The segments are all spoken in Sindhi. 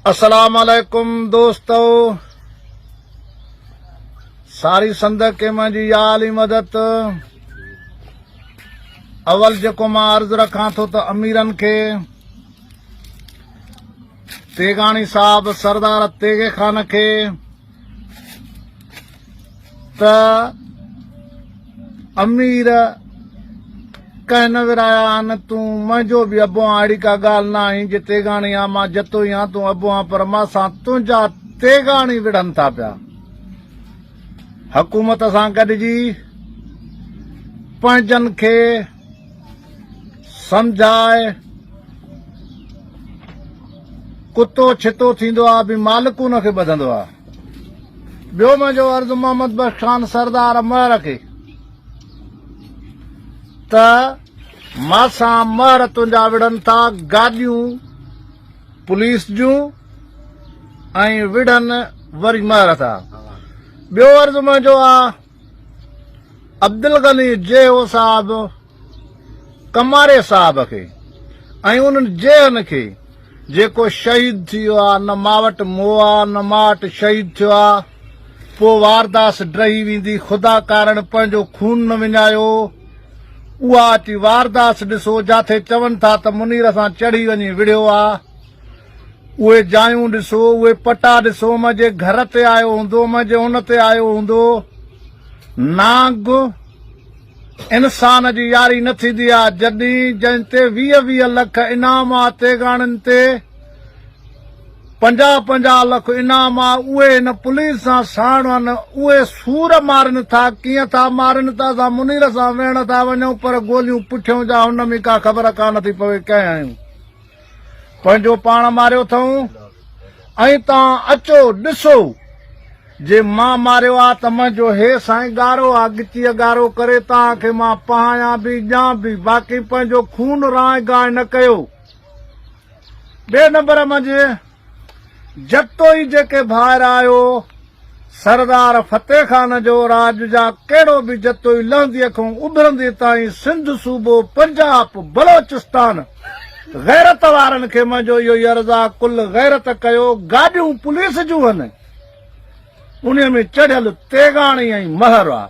السلام عليڪم دوستو ساري سنڌ کي منهنجي يا علي مدد اول جيڪو مان عرض رکان ٿو ته اميرن کي تيغاڻي صاحب سردار تيغي خان کي ته امير ڪنهن نه ورايا آن تون منهنجو به ابو آن اڙي ڪا ڳالهه نه آهين جي تيغاڻي آن مان جتو ئي آن تون ابو آن پر مان سان تنهنجا تيغاڻي وڙهن ٿا پيا حڪومت سان گڏجي پنهنجن کي سمجهاء ڪتو ڇتو ٿيندو آ به مالڪ ان کي ٻڌندو آ ٻيو منهنجو عرض محمد بخش خان سردار مهر کي ته ماسان مهر تنهنجا وڙهن ٿا گاڏيون پوليس جون ۽ وڙهن وري مهر ٿا ٻيو عرض منهنجو آ عبدالغني جيو صاحب ڪماري صاحب کي ۽ انهن جيئن کي جيڪو شهيد ٿي ويو آ نه مان وٽ مو آ نه مان وٽ شهيد ٿيو آ پو وارداس ڊهي ويندي خدا ڪارڻ پنهنجو خون نه وڃايو اها اچي وارداس ڏسو جاٿي چون ٿا ته منير سان چڙهي وڃي وڙهيو آ اهي جايون ڏسو، اهي پٽا ڏسو م جي گهر تي آيو هوندو م جي ان تي آيو هوندو. نانگ، انسان جي ياري نه ٿيندي آ، جڏهين جنهن تي ويهه ويهه لک انعام آ، تيغاڻين تي پنجاهه پنجاهه لک انعام آ، اهي هن پوليس سان ساڻ هن، اهي سور مارين ٿا، ڪيئن ٿا مارين ته اسان منير سان ويهڻ ٿا وڃون پر گوليون پٺيون جا هن م ڪا خبر ڪانه ٿي پوي ڪئين هيون پنهنجو پاڻ ماريو اٿئون ۽ توهان اچو ڏسو جي مان ماريو آ ته منهنجو هي سائين ڳارو آ ڳچيء ڳارو ڪري توهان کي مان پهايان به ڄان به باقي پنهنجو خون رانء گانء نه ڪيو ٻئي نمبر منجهه جتوئي جيڪي ڀائر آهيو، سردار فتح خان جو راڄ جا ڪهڙو به جتوئي لهنديء کان اڀرنديء تائين سنڌ صوبو، پنجاپ، بلوچستان، غيرت وارن کي منهنجو اهو ئي عرض آ، ڪل غيرت ڪيو، گاڏيون پوليس جون هن، انهيء ۾ چڙهيل تيغاڻي ۽ مهر آ،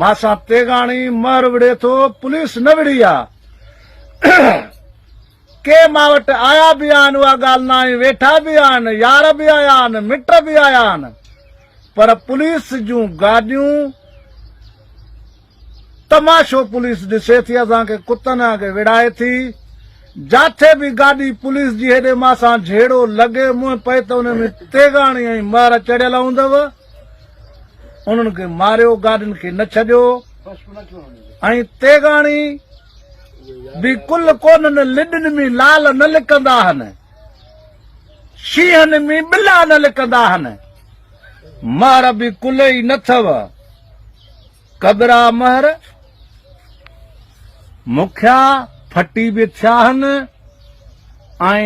مان سان تيغاڻي، مهر وڙهي ٿو، پوليس نه وڙهي آ. ڪي مان وٽ آيا به آهن اها ڳالهه ناهي، ويٺا به آهن، يار به آيا آهن، مٽ به آيا آهن پر پوليس جون گاڏيون تماشو پوليس ڏسي ٿي اسان کي ڪتن وانگي وڙهائي ٿي، جاٿي به گاڏي پوليس جي هيڏي مان سان جهيڙو لڳي منهن پئي ته ان ۾ تيغاڻي ۽ مهر چڙهيل هوندو، انهن کي ماريو گاڏين کي نه ڇڏيو ۽ تيغاڻي به ڪل ڪونهن لڏن ۾ لال نه لڪندا هن شينهن ۾ ٻلا نه لڪندا هن مهر به ڪل ئي نه ٿو ڪبرا مهر مکيا ڦٽي به ٿيا هن ۽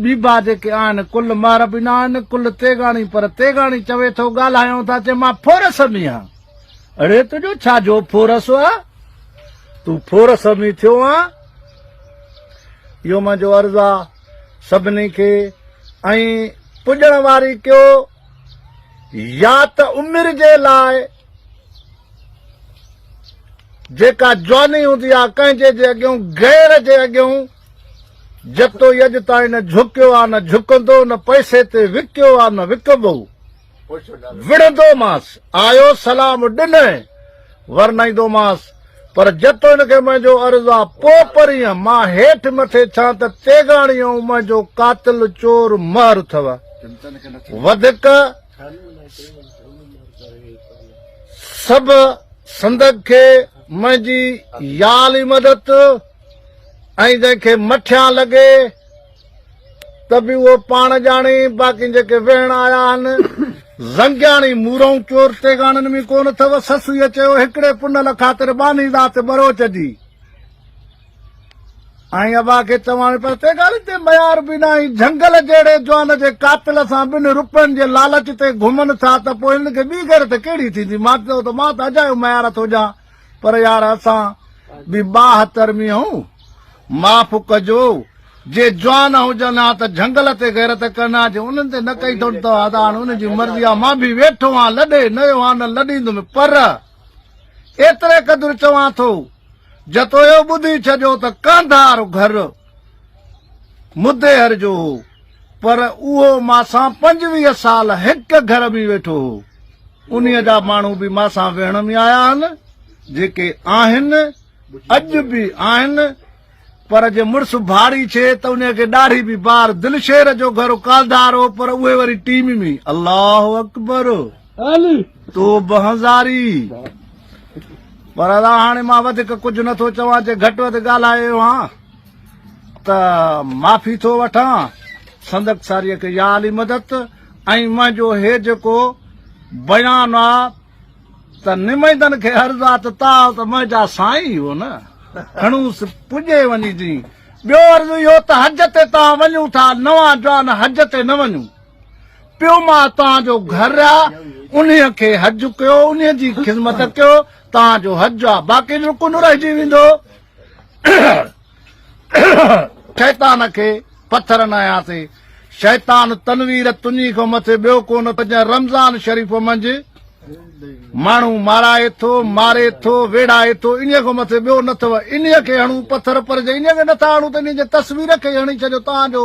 ٻيبا جيڪي آهن ڪل مهر به نه آهن ڪل تيغاڻي پر تيغاڻي چوي ٿو ڳالهايون ٿا چي مان ڦورس ۾ آهيان اڙي تنهنجو ڇا جو ڦورس آ، تون ڦورس ۾ ٿيو آن. اهو منهنجو عرض آ سڀني کي ۽ پڄڻ واري ڪيو يا ته عمر جي لاء جيڪا جواني هوندي آ ڪنهن جي جي اڳيون غير جي اڳيون جتوئي اڄ تائين نه جهڪيو آ نه جهڪندو نه پئسي تي وڪيو آ نه وڪبو. وڙهندومانس، آيو سلام ڏنئين، ورنائيندومانس، پر جتو هن کي منهنجو عرض آ، پوء پرينء مان هيٺ مٿي ٿيان ته تيغاڻي ۽ منهنجو قاتل چور مهر اٿئو. وڌڪ سڀ سندگ کي منهنجي يال ئي مدد ۽ جنهن کي مٺيان لڳي، ته به اهو پاڻ ڄاڻي، باقي جيڪي ويهڻ آيا آهن، زنگياڻي مورئون چور تيغاڻن ۾ ڪونه اٿئو؟ سسئيء چيو، هڪڙي پنل خاطر ٻانهي ذات ٻروچ جي ۽ ابا کي چوان ۾ پر تيغاڻي تي ميار به ناهي، جهنگل جهڙي جوان جي قاتل سان ٻن رپين جي لالچ تي گهمن ٿا ته پوء هنن کي ٻي غيرت ڪهڙي ٿيندي؟ مان چيو ته مان ته اجايو ميار ٿو ڄان. پر يار اسان به ٻاهتر مي هون معاف ڪجو جي جوان هجن ها ته جهنگل تي غيرت ڪن ها جي انهن تي نه ڪئي ٿو ته ها ته هاڻ انهن جي مرضي ها مان به ويٺو ها لڏي نيو ها نه لڏيندم پر ايتري قدر چوان ٿو جتويو ٻڌي ڇڏيو ته ڪانڌار گهر مديهر جو هو، پر اهو مان سان پنجويهه سال هڪ گهر ۾ ويٺو هو. انهيء جا ماڻهو به مان سان ويهڻ ۾ آيا آهن، جيڪي آهن، اڄ به آهن، پر جي مڙس ڀاڙي ڇي ته انهيء کي ڏاڙهي به بار دلشير جو گهر ڪالڌار هو، پر اهي وري ٽيم ۾ الله اڪبر! تون به هنزاري. پر ادا هاڻي مان وڌيڪ ڪجهه نه ٿو چوان، جي گهٽ وڌ ڳالهايو هان ته معافي ٿو وٺان. سندڪساريء کي يا علي مدد ۽ منهنجو هي جيڪو بيان آ ته نمائندن کي عرض آ ته تاء ته منهنجا سائين ئي هو نه، کڻوس پڄي وڃي جي. ٻيو عرض اهو ته حج تي تان وڃون ٿا، نوان جوان حج تي نه وڃون. پيو مان توهان جو گهر آ انهي کي حج ڪيو انهي جي خدمت ڪيو توهان جو حج آ باقي رڪن رهجي ويندو شيطان کي پٿر نايا تي شيطان تنوير تنهي کان مٿي ٻيو ڪون تجا رمضان شريف منج ماڻهو مارائي ٿو ماري ٿو ويڙائي ٿو ان کان مٿي ٻيو نه اٿو ان کي هڻو پٿر پر جي ان کي نٿا هڻو ته ان جي تصوير کي هڻي ڇڏيو تان جو